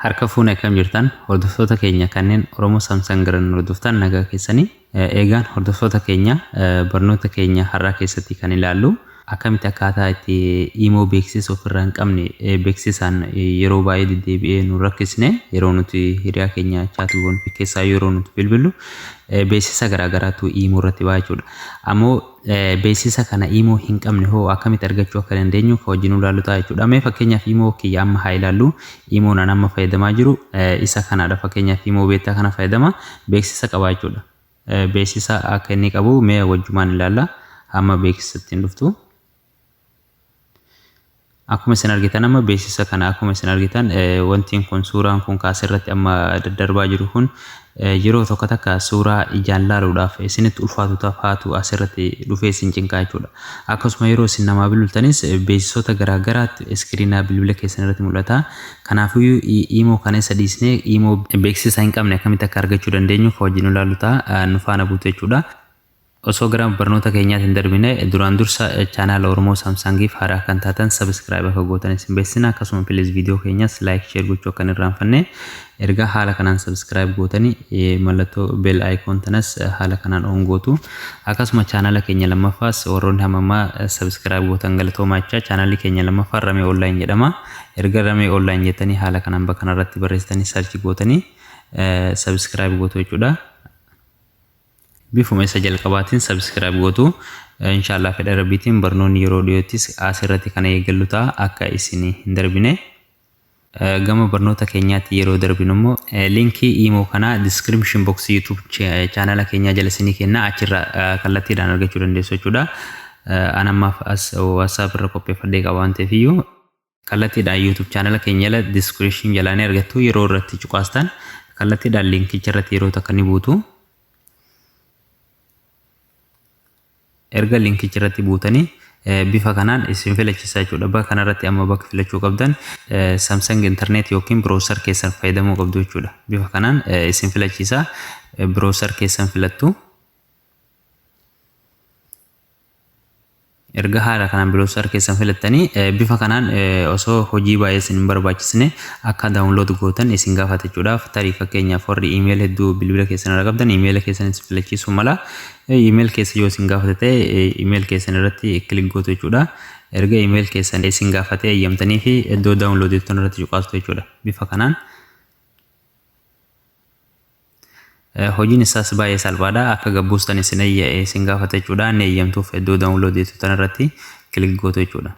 Harka fuune akkam jirtan hordoftoota keenya kanneen Oromoo Samsung irraa nu hordoftan nagaa keessanii eegaan hordoftoota keenya barnoota keenya har'aa keessatti kan ilaallu akkamitti akkaataa itti imoo beeksisa ofirraa hin qabne beeksisaan yeroo baay'ee deddeebi'ee nu rakkisne yeroo nuti hiriyaa keenya chaatuuwwan keessaa yeroo nuti bilbillu beeksisa garaagaraatu iimoo irratti ba'a jechuudha. Ammoo beeksisa kana iimoo hin qabne hoo akkamitti argachuu akka dandeenyu kan wajjin ilaallu ta'a jechuudha. Mee fakkeenyaaf iimoo kiyya amma haa ilaallu. Iimoon an amma fayyadamaa jiru isa kanaadha. Fakkeenyaaf iimoo beektaa kana fayyadama beeksisa qaba jechuudha. Beeksisa akka inni qabu mee wajjumaan ilaalla. Amma beeksisa ittiin dhuftu. Akkuma isin argitan amma beeksisa kana akkuma isin argitan wantiin kun suuraan kun kaas irratti amma daddarbaa jiru kun yeroo tokko takka suuraa ijaan laaluudhaaf isinitti ulfaatu tafaatu as irratti dhufee isin cinqaa jechuudha. Akkasuma yeroo isin namaa bilbiltanis beeksisoota garaa garaatti iskiriinaa bilbila keessan irratti mul'ata. Kanaafiyyuu iimoo kana isa dhiisnee iimoo beeksisa hin qabne akkamitti akka argachuu dandeenyu ka wajjin ilaallu ta'a nu faana buutu jechuudha. Osoo gara barnoota keenyaatti hin darbine duraan dursa chaanaala Oromoo Saamsaangiif haaraa kan taatan sabiskiraayib akka gootan isin beeksisna akkasuma pilis viidiyoo keenyas laayik sheer gochuu akka hin irraanfanne erga haala kanaan sabiskiraayib gootani mallattoo beel ayikoon tanas haala kanaan oon gootu akkasuma chaanaala keenya lammaffaas warroonni hamammaa sabiskiraayib gootan galatoomaachaa chaanaalli keenya lammaffaan ramee oonlaayin jedhama erga ramee oonlaayin jettanii haala kanaan bakka kanarratti barreessitanii sarchi gootanii sabiskiraayib gootu jechuudha. Bifuma isa jalqabaatiin subscribe gootu. Inshaallah fedha rabbiitiin barnoonni yeroo dhiyoottis asirratti kana eegallu ta'a akka isin hin darbine. Gama barnoota keenyaatti yeroo darbinu immoo linkii iimoo kanaa description box YouTube chaanala keenyaa jala isinii kenna achirra kallattiidhaan argachuu dandeessu jechuudha. An ammaaf as WhatsApp irra qopheeffadhee qaba waan ta'eef iyyuu Kallattiidhaan YouTube channel keenya jala description jalaa ni argattu yeroo irratti cuqaastan kallattiidhaan linkicha irratti yeroo takka ni buutu. Erga linkicha irratti buutanii bifa kanaan isin filachiisa jechuudha. Bakka kanarratti amma bakka filachuu qabdan Samsung internet yookiin browser keessan fayyadamuu qabdu jechuudha. Bifa kanaan isin filachiisa browser keessan filattu. Erga haala kanaan biloosaar keessan filattanii bifa kanaan osoo hojii baay'ee isin hin barbaachisne akka daawunlood gootan isin gaafata jechuudhaaf tarii fakkeenyaaf warri iimeel hedduu bilbila keessan irra qabdan iimeela keessan isin filachiisuu mala iimeel keessa yoo isin gaafate ta'e iimeel keessan irratti kilik gootu jechuudha erga iimeel keessan isin gaafate eeyyamtanii fi iddoo daawunlood jettan irratti cuqaastu jechuudha bifa kanaan Hojiin isaas baay'ee salphaadha. Akka gabbuustan isin eeyya'e isin gaafata jechuudha. Ni eeyyamtuuf iddoo download jettu tan irratti kilik gootu jechuudha.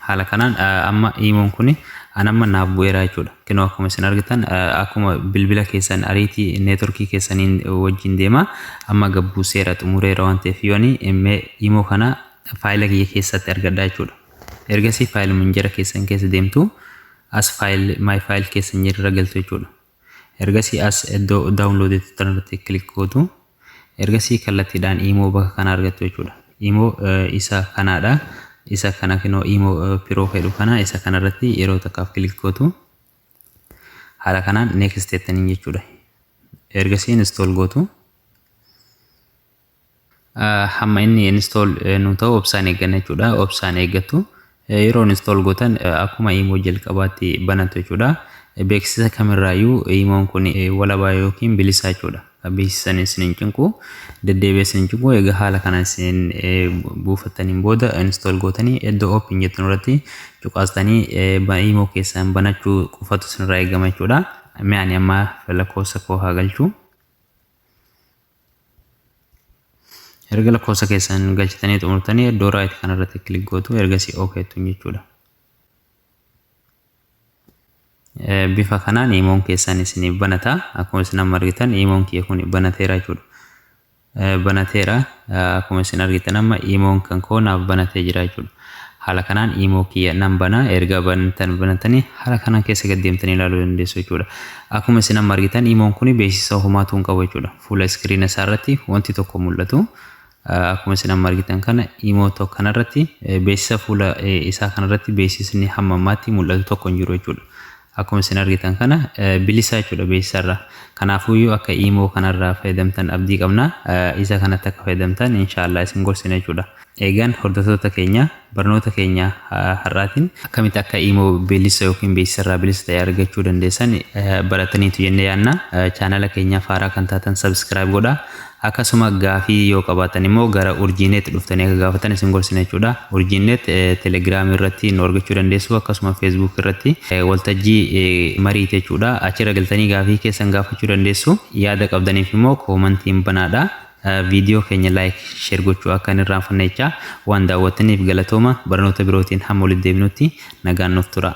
Haala kanaan amma iimoon kun an amma naaf bu'eera jechuudha. Kinoo akkuma isin argitan akkuma bilbila keessan ariitii neetworkii keessaniin wajjin deema. Amma gabbuuseera xumureera waan ta'eef yoo ani iimoo kana faayila kiyya keessatti argadha jechuudha. Ergasii faayila minjera keessan keessa deemtu. as file my file keessa hin jirre galtu jechuudha ergasii as iddoo download itti turan irratti click gootu ergasii kallattiidhaan imoo bakka kana argattu jechuudha imoo isa kanaadha isa kana kinoo imoo piroo fedhu kana isa kana irratti yeroo takkaaf click gootu haala kanaan next jettaniin jechuudha ergasii install gootu hamma inni install nu ta'u obsaan eegganna jechuudha obsaan eeggattu yeroo install gootan akkuma imoo jalqabaatti banatu jechuudha beeksisa kamirraayyuu imoon kun walabaa yookiin bilisaa jechuudha beeksisan isin hin cinqu deddeebi'ee isin hin cinqu egaa haala kana isin buufattaniin booda install gootanii iddoo open jettan irratti cuqaastanii imoo keessan banachuu qofatu isinirraa eegama jechuudha mi'aani amma lakkoofsa koo haa galchuu erga lakkoofsa keessan galchitanii xumurtanii iddoo raayit kana irratti kilik gootu ergasii ok jettuun jechuudha. Bifa kanaan iimoon keessan isiniif banata akkuma isin amma argitan iimoon kiyya kun banateera jechuudha. Banateera akkuma isin argitan amma iimoon kan koo naaf banatee jira jechuudha. Haala kanaan imo kiyya nan bana erga bantan banatani haala kanaan keessa gad deemtanii ilaaluu dandeessu jechuudha. Akkuma isin amma argitan imoon kuni beeksisa homaatu hin qabu jechuudha. Fuula iskiriina isaa irratti wanti tokko mul'atu akkuma isin amma argitan kana imo tokko kanarratti beeksisa fuula isaa kanarratti beeksisni hamma ammaatti mul'atu tokko hin jiru jechuudha. Akkuma isin argitan kana bilisaa jechuudha beeksisarraa. Kanaafuyyuu akka iimoo kanarraa fayyadamtan abdii qabna. Isa kanatti akka fayyadamtan inshaallah isin gorsina jechuudha. Eegaan hordoftoota keenya barnoota keenya har'aatiin akkamitti akka iimoo bilisa yookiin beeksisarraa bilisa ta'e argachuu dandeessan barataniitu jennee yaadna. Chaanala keenyaaf haaraa kan taatan sabiskiraayib godhaa. Akkasuma gaafii yoo qabaattan immoo gara Urjiinet dhuftanii akka gaafattan isin gorsina jechuudha. Urjiinet Telegram irratti nu argachuu dandeessu akkasuma Facebook irratti waltajjii mariiti jechuudha. Achirra galtanii gaafii keessan gaafachuu dandeessu. Yaada qabdaniif immoo koomantiin banaadha. Viidiyoo keenya like share gochuu akka hin irraanfanne jechaa waan daawwattaniif galatooma barnoota birootiin hamma walitti deebinutti nagaan nuuf tura.